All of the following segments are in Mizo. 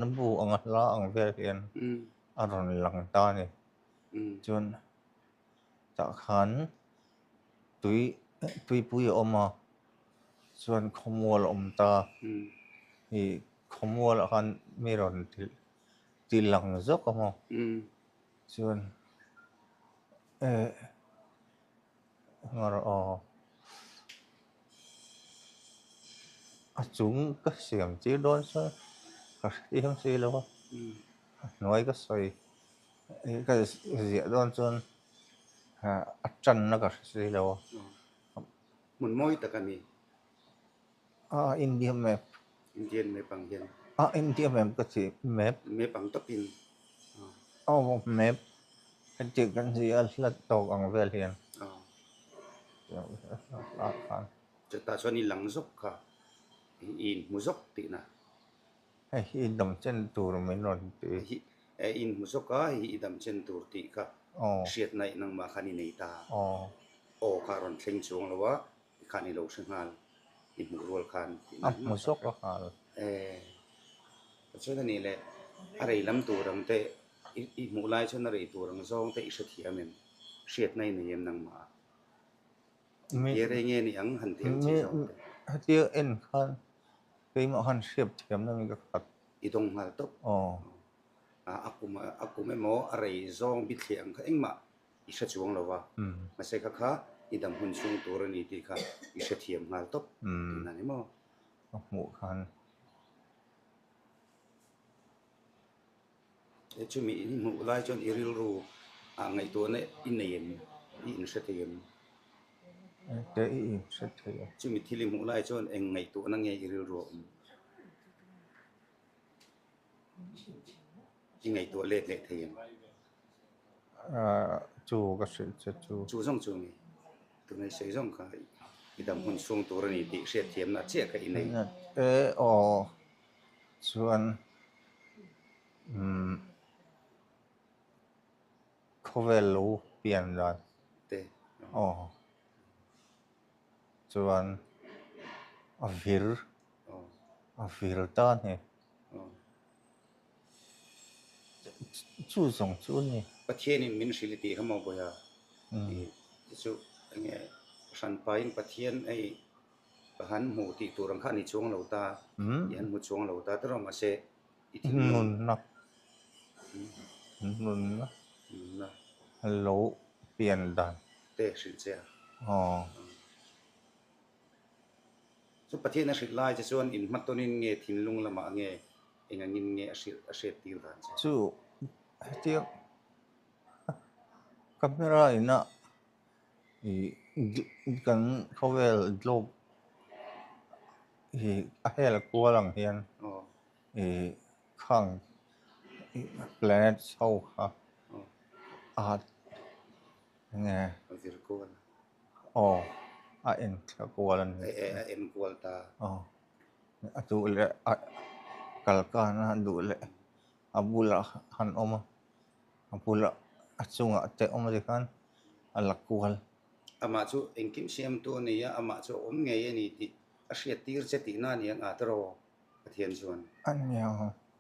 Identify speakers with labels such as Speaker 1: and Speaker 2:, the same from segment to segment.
Speaker 1: Na bu anga hla ang vel hian a rawn lang ta a ni. Chuan tah khan tui tuipui a awm a, chuan khawmual a awm ta a, khawmualah khan mi rawn ti lang zawk a maw? Chuan e. Ngar aw. A chung ka siam tir dawn sa ka hre em si lo a, a hnuai ka sawi ka ziah dawn chuan a tanna ka hre si lo a. Hmun mawi tak a ni. A India map. Indian map ang hian. A India map ka ti map. Map ang tak in. Aw map ka ti kan zi a hlat tawk ang vel hian. Chutah chuan i lang zawk kha i in hmu zawk tih na. Hei hi i dam chen tur min rawn ti. Hi i in hmu zawk a hei hi i dam chen tur tih kha hriat na i nangmah khan i nei ta. Aw kha rawn thleng chuang lo a Tikhan i lo hre nghal, i hmuh rual khan tih ngai ngai zawk ka hriat. Eh, ka chuan a ni le, a rei lam tur ang te, i hmuh lai chuan a rei tur ang zawng te i hrethiam em? Hriatna i nei em nangmah? Hetia rei nge ni ang han ti ang chi zawng te. Hetia en khan keimah khan hriat thiam na mi ka khat. I dawng nghal tawp. Aw. A kum emaw a rei zawng bithliah ang kha engmah i hre chuang lo va, mahse kha kha i dam hun chhung tur a ni tih kha i hrethiam nghal tawp tiin a ni maw? Ka hmuh khan. E chumi i hmuh lai chuan i rilru ah ngaihtuahna i nei em? I inhre thei em? Engte i inhre thei a? Chumi thil i hmuh lai chuan eng ngaihtuahna nge i rilru a awm? I ngaihtuah let leh thei em? chu ka hrilh che chu. Chu zawng chu mi tunei sawi zawng kha i dam hun chhung tur a ni tih hriatthiamna a chiah kha i nei. Hriatte aw chuan umm khawvel lo pian dan te aw chuan a vir a vir ta hne. Chu zawng chu a ni. Pathian in min hrilh tih hamo bawih a ni te chu enge hran paiin Pathian hei ka han hmu tih tur ang kha a ni chuang lo ta i han hmu chuang lo ta te rawh mahse i thil nun nunna lo pian dan te hrilh che a. Chu Pathian a hrilh lai che chuan in hma tawnin nge thinlung lamah nge eng angin nge a hrilh a hriat tir dan che? Chu hetiang camera in a kan khawvel dlawk a hel kual ang hian khang planet ho kha a nge Aw, a en kual a ni. E, a en kual ta. Aw, a duh leh a kal kana a duh leh a bulah han awm a, a bulah a chungah te awm zi khan a la kual. Amah chu engkim siam tu a ni a, amah chu a awm ngei a ni tih a hriat tir che tihna a ni a, ngah tawh rawh, Pathian chuan. A ni ang.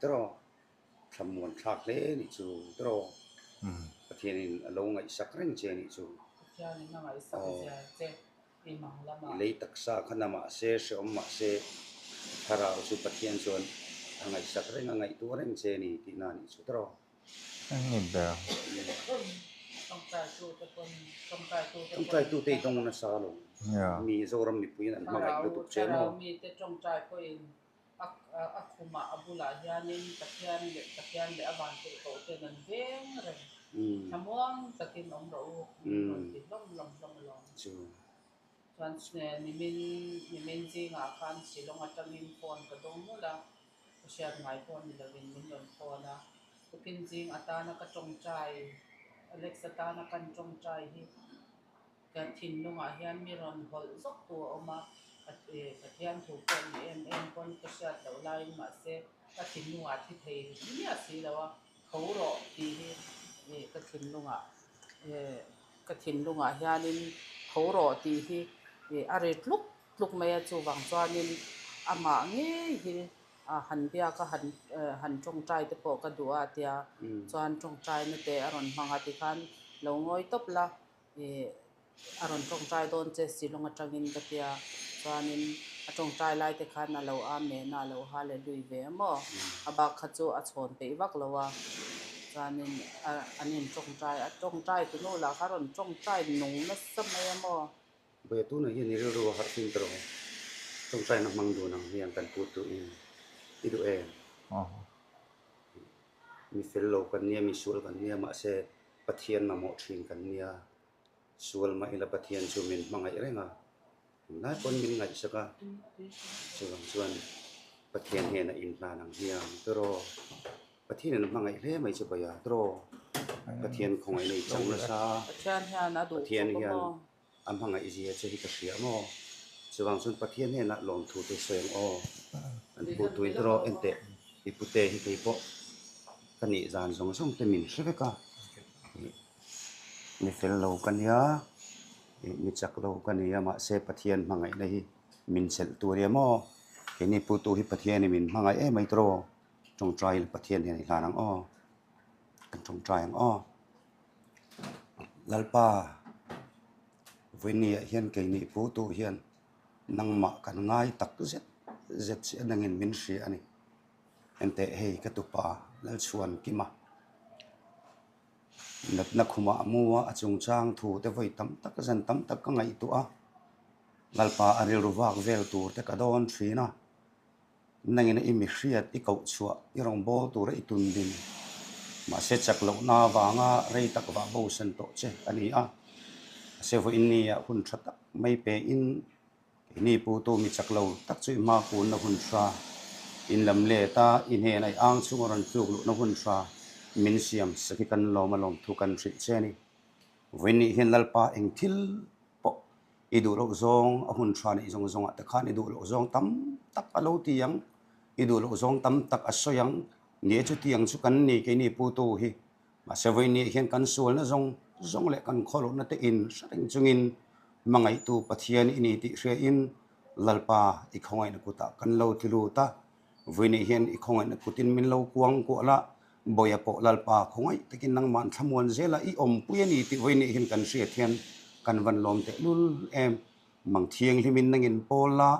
Speaker 1: Tiraw, thlamuan thlak hle a nih chu, tiraw, Pathianin a lo ngaihsak reng che a nih chu, aw, i lei taksa khan a mahse, hrehawm mahse, Thlarau chu Pathian chuan a ngaihsak reng, a ngaihtuah reng che a ni tihna a nih chu, tiraw. Eng nge ber? Tawngtaitute i dawng nasa lo, mi Zoram mipuiin an hmangaih lutuk che maw? A khumah a bulah hianin Pathian leh Pathian leh a vangte pawh ten an veng reng. Thlamuang takin awm rawh u min rawn ti hlawm hlawm hlawm alawm. Chuan nimin nimin zingah khan silawng atangin phone ka dawng nghulh a, ka hriat ngai pawh a ni lovin min rawn phone a. Pukinzing atana ka tawngtai, Alex atana kan tawngtai hi. Ka thinlungah hian mi rawn hawlh zawk tu a awm a, Pathian thu pawh ni em em pawn ka hriat loh laiin mahse ka thinlungah thi thei ri miah si lo a, tho rawh tih hi ka thinlungah ka thinlungah hianin tho rawh tih hi a ri tluk tluk mai a, chuvang chuanin amah ngei hi han biaka han han tawngtai te pawh ka duh a tia chuan tawngtai nute a rawn hmang a tikhan lo ngawi tawp la. ih a rawn tawngtai dawn che si lawng atangin ka tia chuanin a tawngtai lai te khan a lo â mehna a lo hâ leh lui ve a maw a bak kha chu a chhawn peih vak lo a chuanin a an in tawngtai a tawngtai tu nu lah khan a rawn tawngtai nung nasa mai a maw. Bawihah tunah hian i rilru a harh fim ta rawh tawngtai na hmang dun ang hian kan put duh in i duh em mi fel lo kan nia mi sual kan nia mahse Pathian mamawh thin kan nia, sual mah ila Pathian chu min hmangaih reng a, tunlai pawn min ngaihsak a, chuvang chuan Pathian hian a inhlan ang hiam tiraw, Pathian in hmangaih hle mai chu bawihah tiraw, Pathian khawngaih nei chauh nasa, Pathian hian A hmangaih zia chu hi ka hria maw? Chuvang chuan Pathian hnenah lawmthute sawi ang aw. Kan pu tui hi rawh enteh i pute hi kei pawh ka nih zan zawng zawng te min hre vek a. Ni fel lo ka nia, ni chak lo ka nia mahse Pathian hmangaihna hi min chelh tur i a maw? Keini pu tu hi Pathian i min hmangaih e mai tawh rawh. Tawngtai Pathian hian i hlan ang aw, kan tawngtai ang aw. Lalpa, Vawinia hian keini pu tu hian nangmah kan ngai tak zet zet si a, nangin min hria a ni. Hente hei ka tupa Lalchhuan Kima natna khumah a mu a, a chungchang thu te vawi tam tak zan tam tak ka ngaihtuah a, Lalpa a rilru vak vel tur te ka dawn thin a. Nangin i mihriat i koh chhuah, i rawngbâwl tûra i tun din. Mahse, chak lohna vanga rei tak vah bo sen tawh che a ni a. Mahse, vawinia hun ṭha tak mai pein keini pu tu mi chak lo tak chu i hmâkunna hun ṭha, in lam let a, i hnêna i âng chunga rawn tlûk luhna hun ṭha min siam se khi kan lawma lawmthu kan hrih che a ni. Vawinih hian Lalpa engthil pawh. I duh loh zawng a hun tha neih zawng zawngah te khan i duh loh zawng tam tak a lo ti ang, i duh loh zawng tam tak a sawi ang. Nia chu tiang chu kan ni ke ni pu tu hi. Mahse vawinia hian kan sualna zawng zawng leh kan khaw loh na te in hre reng chungin Hmangaihtu Pathian i ni tih hriain Lalpa i khawngaihna kutah kan lo tlu lut a. Vui nih hian i khawngaihna kutin min lo kuang kuah la, Bawia pawh Lalpa khawngaih takin nangmah an thlamuan zel a, i awm pui a ni tih vui nih hian kan hriat hian kan van lawm teh lul em. Mang thianghlim in nang in pawl la,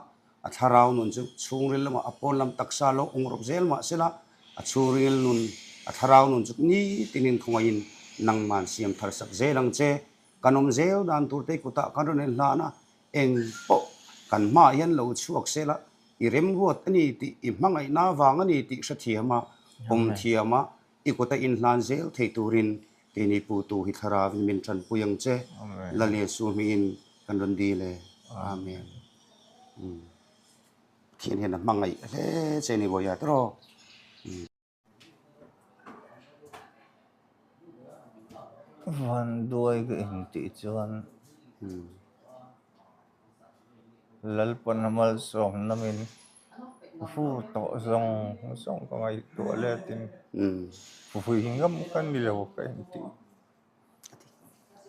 Speaker 1: a thlarau nun chu chhungril lamah a pawn lam taksa lo awng rawp zel mah se la, a chhungril nun, a thlarau nun chu nitin in khawngaih in nangmah an siam tharsak zel ang che. Kan awm zel dan tur te kutah kan rawn en hlan a, Eng pawh kan hma ah hian lo chhuak sel a, i remruat a ni tih, i hmangaihna avang a ni tih hrethiam a, awm thiam a, i kut a inhlan zel thei turin kei ni pu tu hi thlarau in min ṭanpui ang che. Lale Su hming in kan rawn dil e. Amen. Pathian hian a hmangaih hle che ni vawi a, tiraw? Vanduai ka intih chuan Lalpana malsawmna min fu tawh zawng zawng ka ngaihtuah leh tin vui ngam ka ni lo ka intih.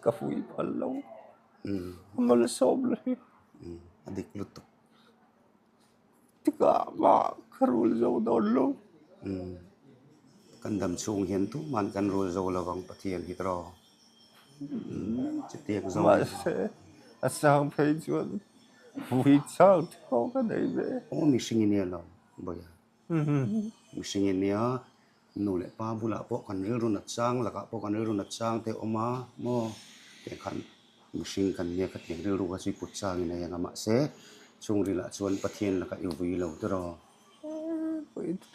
Speaker 1: Ka vui phal lo, malsawmna hi a dik lutuk. Tikah mah ka rul zo dawn lo. Umm, kan dam chhung hian tuma'n kan rul zo lo vang Pathian hi ka raw. Umm, chutiang zawng a ni. Mahse, a sang phei chuan vui chang tha khawp ka nei ve. Aw, mihring i nia lo, Bawihah. Mihring i nia. Nu leh pa bulah pawh kan rilru nat chang lakah pawh kan rilru nat chang te awm a maw eng khan mihring kan nia kha thei rilru kha chu i put chang in a eng a mahse chhung rilru ah chuan pathian laka i vui lo tawh rawh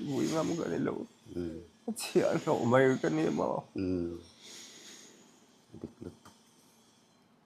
Speaker 1: vui ngam ka ni lo ka chhiah hlawh mai ka ni maw dik lutuk.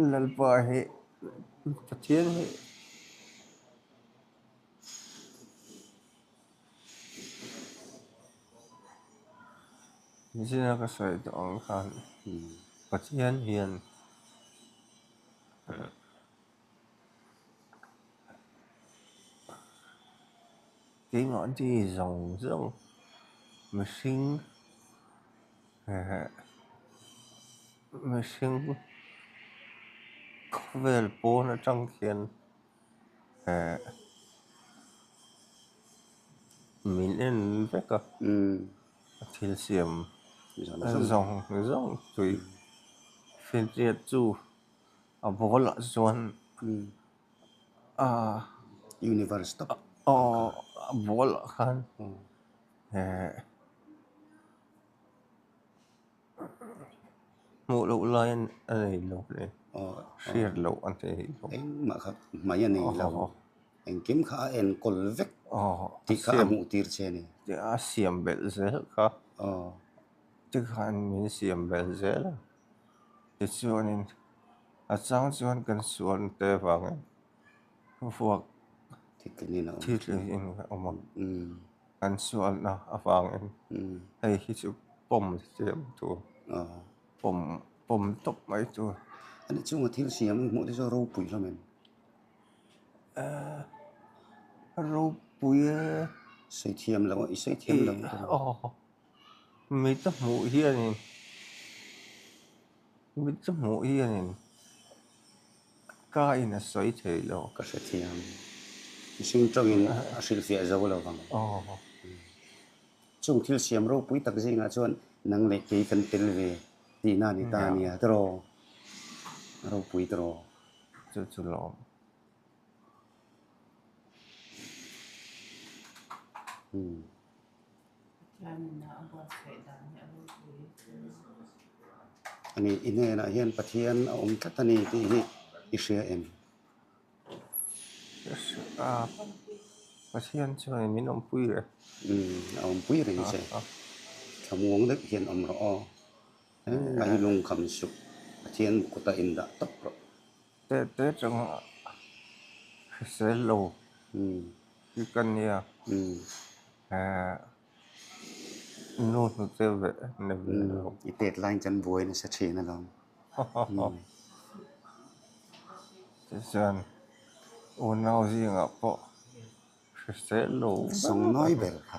Speaker 1: Lalpa hi Pathian hi zia ka sawi duh ang khan Pathian hian Keimah di zawng zawng mihring ehh mihring khawvel pawn atang khian ehh min en vek a thil siam zawng zawng tui fir chiat chu a bawlah chuan. universe tawk ball ah khan hmuh loh lai a nei lo e hriat loh a nei lo eng mah kha hmai a nei lo engkim kha a enkawl vek tih kha a hmuh tir che a ni a siam belh zel kha tikhan min siam belh zel a. tichuanin a chang chuan kan sual te avangin vuak thithleng in a awm a kan sualna avangin hei hi chu pawm siam tur pawm pawm tawp mai tur ani chunga thil siam hmuh te chu ropui hlawm em ropui e sawi thiam loh sawi thiam loh aww. mi ka hmuh hianin mi ka hmuh hianin ka ina sawi thei lo. Ka hrethiam mihring tawngin a hrilhfiah zo lo vang. Chung thil siam ropui tak zingah chuan nang leh kei kan tel ve tihna a ni ta nia te rawh, a ropui te rawh. Chu chu lawm. Ani i hnenah hian Pathian a awm tlat a ni tih hi i hria em? Ka hria a, Pathian chu hei min awmpui rih e. A awmpui rih che, thlamuang deuh hian awm rawh aw, engmah hi lungkham suh, Pathian kut a indah tawp rawh. Teh teh chang a hrisel lo hi ka nia nu hnu che ve ni ve lo. I tet lain chuan buai nasa thin a lo. Tih chuan unau zingah pawh hrisel lo ber a ni. Sawng nawi ber kha.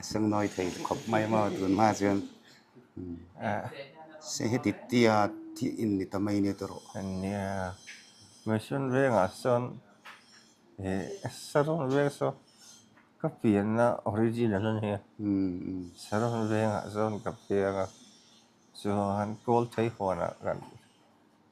Speaker 1: a sengnâwi thei khawp mai a maw tûn hmaah chuan se heti tia thih in ni ta mai nia tûr aw. A nia mission vêngah sawn ih saron vêng saw ka pianna origin a la ni a saron vêngah sawn ka piang a chuan kâwlthei huanah kan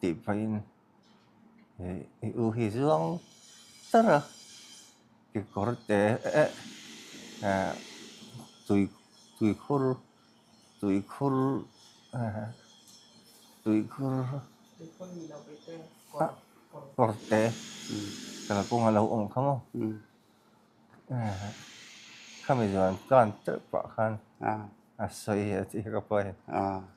Speaker 1: tih phaihin i u hi zuang tar a, kekawr te eh tui tui khur tui khur tui khur kawr te kalkawng a lo awm kha maw khami zuan tan teuh pah khan a sawi a tih ka pawi.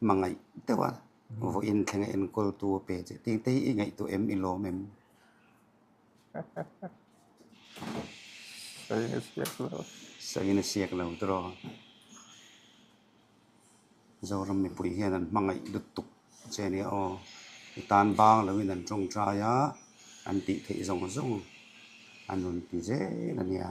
Speaker 1: Hmangaih deuha vawiin thlenga enkawltu a pe che tih te hi i ngaihtuah em i lawm em? Sangin a siak lo. Sangin a siak lo tawrh aw. Zoram mipui hian an hmangaih lutuk che a nia aw. I tan bang loin an tawngtai a, an tihtheih zawng zawng an rawn ti zel a nia.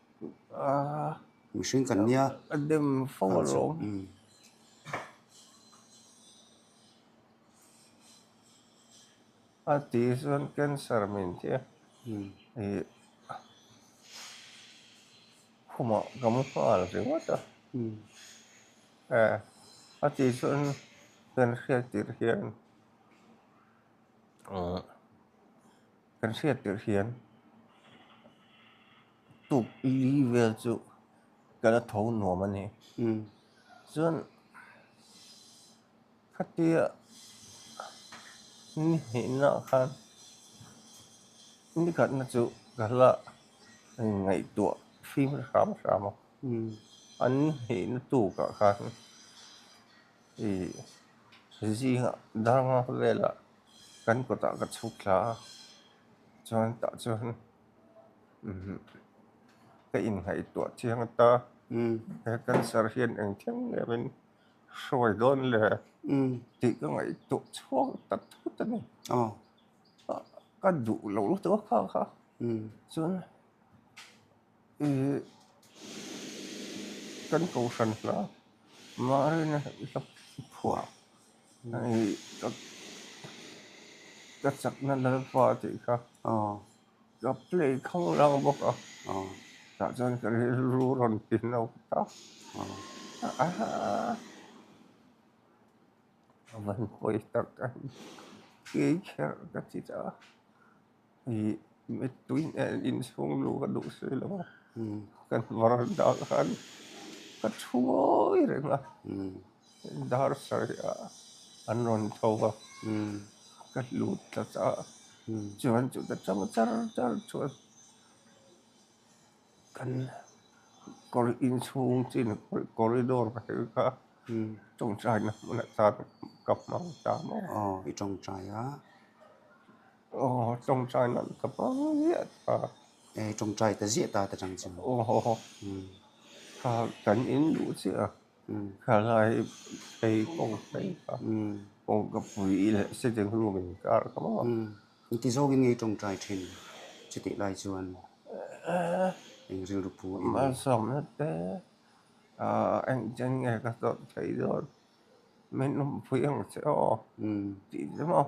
Speaker 1: mihring kan nia a dem fo alo a ti hi chuan cancer min thia ih khumah kan nghal ringawt a eh a ti chuan kan hriat tirh hian. Kan hriat tirh hian tuk li vel chu kan la tho nuam a ni. Chuan khatia ni hneihna khan ni khatna chu ka la ngaihtuah fim hram hram a. An ni hneihna tukah khan ih zingah darnga velah. kan kawtah ka chhuk thla a chuan tah chuan umm ka inhnaihtuah chiang ata he cancer hian engtiang ngemin hruai dawn le tih ka ngaihtuah chhuak tak thut a ni ka duh lo lutuk a kha kha chuan. kan kohhran hna Mahria i hla phuah ka chakna lalpa tih kha ka play khawng lang bawk a, tah chuan ka rilru rawn ti no tak a van hawi tak a ni kei kher ka ti ta. ih mi tui nen insung luh ka duh sawi lo a ka varanda ah khan ka thu ngawi reng a dar sawi a an rawn tho a ka hlut ta cha a chuan chuta chang char char chuan kan kawr inchhung chin corridor ka tel kha tawngtai na hmunah chuan ka hmang ta maw. Aww tawngtai nan ka hma viat a. Ehh tawngtai ka ziah ta ta chang chu. Aww kha kan in luh chiah a kha lai ei kawng phei kha kawng ka pui i leh sitting room in ka arh ka mawh a. Eng ti zawk in ngei tawngtai thin che teh lai chuan eng rilru pu i leh. Malsawmna te engtin nge ka chawlh thei dawn min awmpui ang che aw tih chu maw.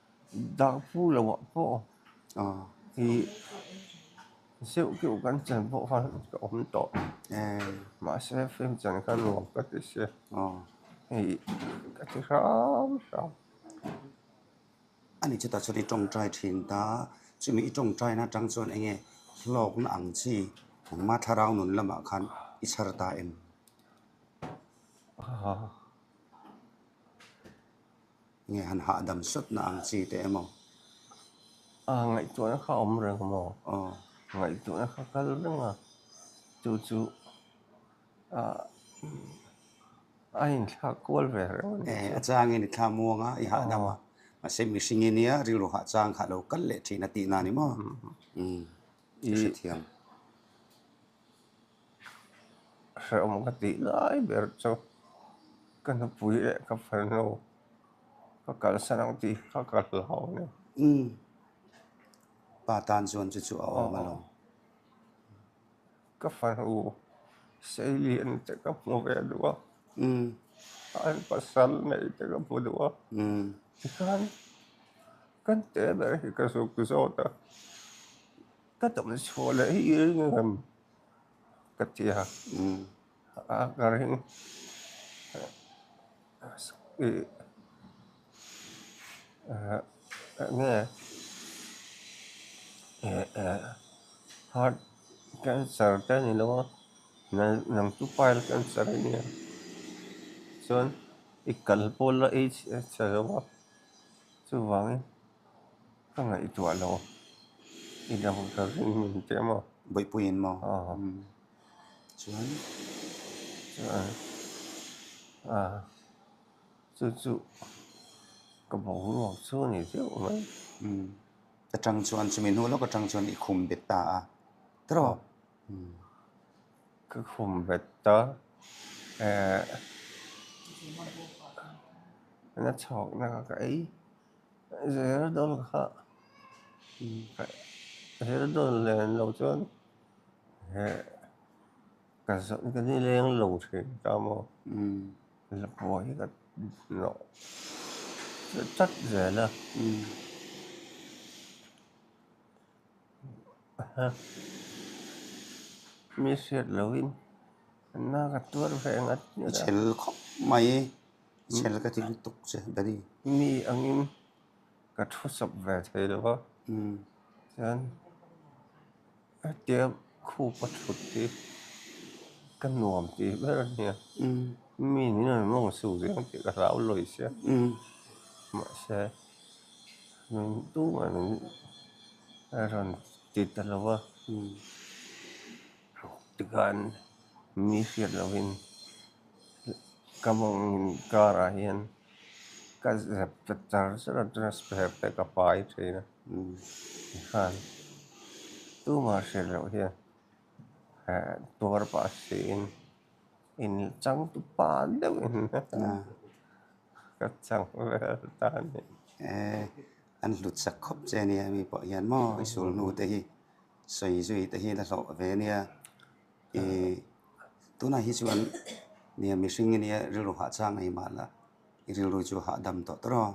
Speaker 1: Dah pu lo ah pawh i zeuh keuh kan chan pawh kha ka awm tawh mahse film chan kha nuam ka ti se hei ka ti hram hram. Ani chutah chuan i tawngtai thin ta, chumi i tawngtai na atang chuan enge hlawk na ang chi? Engmah thlarau nun lamah khan i chhar ta em? Nge han hahdam sawtna ang chi te emaw? A ngaihtuahna kha a awm reng maw? Aw. Ngaihtuahna kha kal reng a, chu chu a inthlak kual ve reng a ni chu. E, a changin i thla muang a, i hahdam a. Mahse mihring i nia rilru hah chang kha lo kal leh thin a tihna a ni maw? Ih, ka hrethiam. Hrehawm ka tih lai ber chu ka nupui leh ka fanu ka kalsan ang tih kha ka hlau a ni. Umm. Pa tan chuan chu chu a awm a lo. Ka fanu Seilian te ka hmu ve duh a. Umm. An pasal neih te ka hmu duh a. Umm. Tikhan kan te ber hi ka zuk zawt a. Ka damchhuah leh hi i ring rem ka ti a nge heart cancer te a ni lo a nang chu pile cancer a nia chuan i kal pawl la aids a lo a chuvangin-- Ka ngaihtuah lo, i lo za zing min teh maw? Bawihpuiin maw? Aw. Umm. Chuan. Aw. Aw. Chu chu ka boruak chu a ni deuh mai. Umm. Ka tang chuan, chumi hnu lawka tang chuan i khum bet ta a. Ka rawh. Umm. Ka khum bet ta. Ehh. Na chhawkna ka ei. Zir dawn kha zir dawn len lo chuan ka zawh ka ni leng lo thin ta maw Lapuan hi ka nawh tlat zel a mi hriat lohin na ka tuar veng a. Ka chhel khawp mai. Chhel ka ti lutuk che Danny. Mi angin ka thu sawp ve thei lo a. Chuan hetiang khu pathut hi ka nuam tih ber a nia. Mi ni nawr mawng su zel tih ka hlau lawi sia. Mahse, min dungah min rawn ti ta lo a. Tikhan mi hriat lohin ka mawngin car ah hian ka zep ta char char a chuan a spare pawh ka pai thin a tikhan tumah hriat loh hian eh tuar pah si in in changtu pa deuh in ka chang vel ta a ni. Eh an hlut sak khawp che a nia mi pawh hian maw i sulnu te hi. Sawi zui te hi la hlawh ve nia. Ih tunah hi chuan nia mihring nge nia rilru hah chang ei mah la i rilru chu hah dam tawh tawrh aw.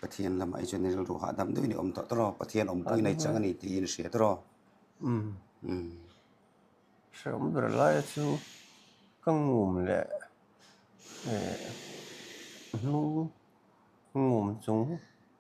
Speaker 1: Pathian lamah hi chuan i rilru hah dam deuh in i awm tawh tawrh aw. Pathian awmpui nei chang a ni tiin i hria tawrh aw. Hre awm ber laia chu ka ngum leh hnung ngum chung.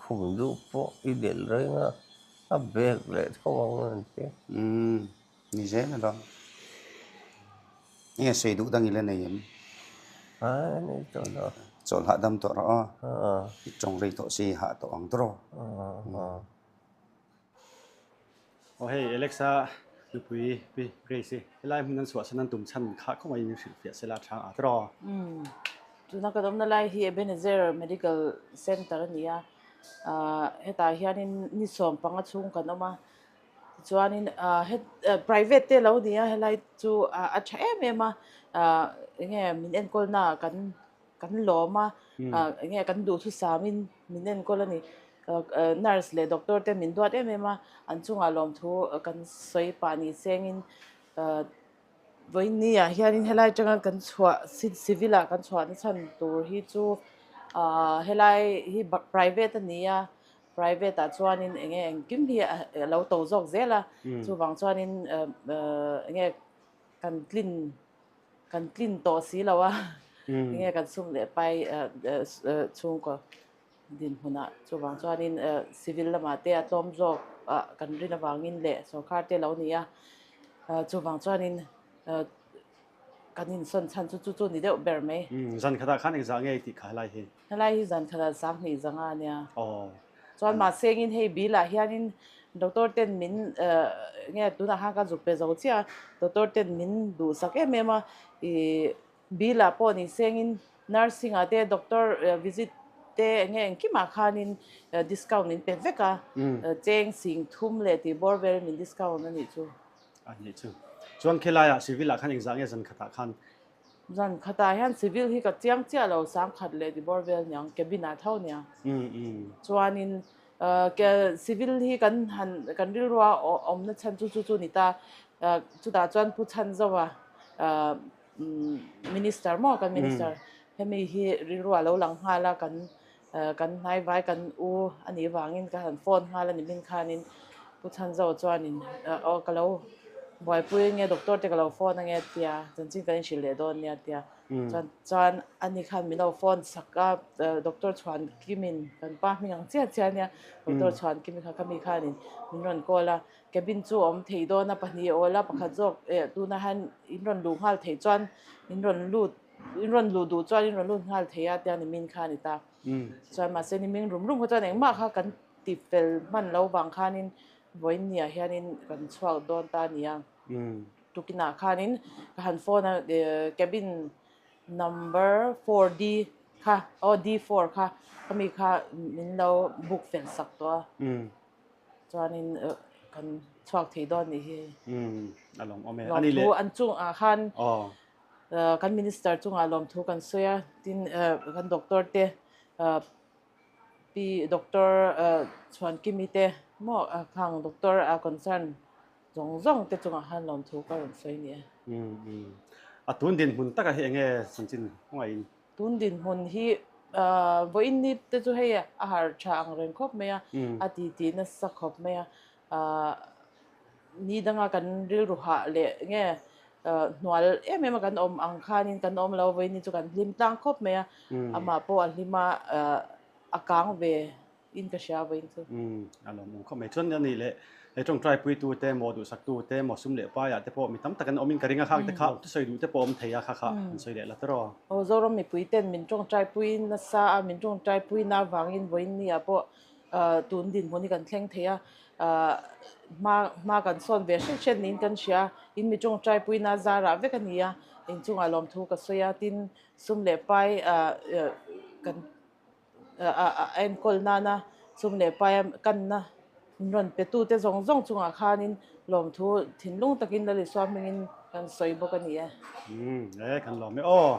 Speaker 1: Khum duh pawh i del reng a, a bag leh tho ang a rawn ti. Umm, ni zel a dawn. Enge sawi duh dang ila nei em? Aa, a nei tawh lo. Chawlh hah dam tawh rawh aw. Aa. I tawng rei tawh si i hah tawh ang tawh rawh. Aa. Aw hei Alexa, nupui pi Grace, helai hmun an suahsan an tum chhan khah khawp mai in hrilh fiah sela chhang a tiraw? Umm, tuna kan awmna lai hi Ebenezer Medical Center a ni a, ahh hetah hianin ni sawm panga chhung kan awm a, tichuanin ahh he private te lo ni a, helai chu a tha em em a, ahh eng nge min enkawl naah kan, kan lawm a eng nge kan duh thu sam in min enkawl a ni nurse leh doctor te min duat em em a an chung ah lawm thu kan sawi pah nih seng in ah vawiini ah hian in helai atanga kan chhuah civil ah kan chhuah na chhan tur hi chu ah helai hi private a ni a private ah chuan in eng nge engkim hi a lo to zawk zel a chuvang chuan in ah eng nge kan tlin. Kan tlin tawh si lo a, tinge kan sum leh pai chhungkaw dinhmunah chuvang chuanin civil lamah te a tlawm zawkah kan rin avangin leh sorkar te lo ni a, chuvang chuanin kan insawn chhan chu chu chu ni deuh ber mai. Zankhatah khan engzah nge i tih kha helai hi? Helai hi zan khalal sang hnih zanga nia. Chuan mahsengin hei bilah hianin Doctor ten min nge tunah khan ka zuk pe zo chiah a, Doctor ten min duhsak em em a. I bilah pawh ni sengin Nursing ah te Doctor visit te eng nge engkim ah khanin discount min pe vek a. Cheng sing thum leh tih bawr velin min discount a nih chu. A nih chu. Chuan khelaia Civil ah khan engzah nge zan khatah khan Zan khatah hian civil hi ka chiang chiah lo, sangkhat leh dibawr vel niang cabin ah tho nia. Chuanin civil hi kan han kan rilrua awmna chhan chu chu chu ni ta, chutah chuan pu chhan zauh a minister maw kan minister hemi hi rilrua lo lang nghal a kan Kan hnaivai kan u a nih vangin ka han phone nghal a ni min khanin Pu Chhanzo chuanin, Aw ka lo buaipui enge doctor te ka lo phone ange tia, chuan chin kan inhrilh leh dawn nia tia. Chuan chuan ani khan min lo phone sak a, doctor chhuan kimin kan pa hming ang chiah chiah nia, doctor chhuan kimi kha ka mi khanin min rawn call a, cabin chu awm thei dawn a pahnih awl a pakhat zawk tunah hian in rawn luh nghal thei chuan in rawn lut. In rawn luh duh chuan in rawn lut nghal thei a tiang nimin kha a ni ta. Chuan mahse nimin rum rum kha chuan engmah kha kan ti fel hman lo vang khanin Vawiinni ah hianin kan chhuak dawn ta a ni a. Tukinah khanin ka han phone a cabin number four D kha aw D four kha khami kha min lo book fel sak tawh a. Chuanin kan chhuak thei dawn a nih hi. Lawmthu an chungah khan. kan minister chungah lawmthu kan sawi a, tin kan doctor te, pi doctor Chhuankimi te maw khang doctor a concern zawng zawng te chungah khan lawmthu ka rawn sawi nia. A tun dinhmun taka hi enge chanchin hmanga in? Tun dinhmun hi vawiin ni te chu hei a harh tha ang reng khawp mai a, a titi nasa khawp mai a, Ahh ni danga kan rilru hah leh nge hnual em em a kan awm ang khanin kan awm lo vawi ni chu kan hlim tlang khawp mai a, amah pawh a hlim a, a kang ve in ka hria vawi chu. A lawm awm khawp mai chuan a nih leh he tawngtai puitu te, maw duhsak tu te, maw sum leh paiah te pawh mi tam tak an awm in ka ring a khak te kha sawi duh te pawh awm thei a, kha kha an sawi leh la tawrh aw. Aw Zoram mipui ten min tawngtai pui nasa a, min tawngtai pui na vangin vawiin ni ah pawh Tun dinhmun hi kan thleng thei a, hma kan sawn ve hriat hriat niin kan hria. In mi ṭung ṭaipuina zar ah vek a ni a, in chungah lawmthu ka sawi a, tin sum leh pai a enkawl nana, sum leh pai a kanna rawn petute zawng zawng chungah khanin, Lawmthu thinlung takin Lalisuam hmingin kan sawi bawk a ni e. Ee kan lawm e aw.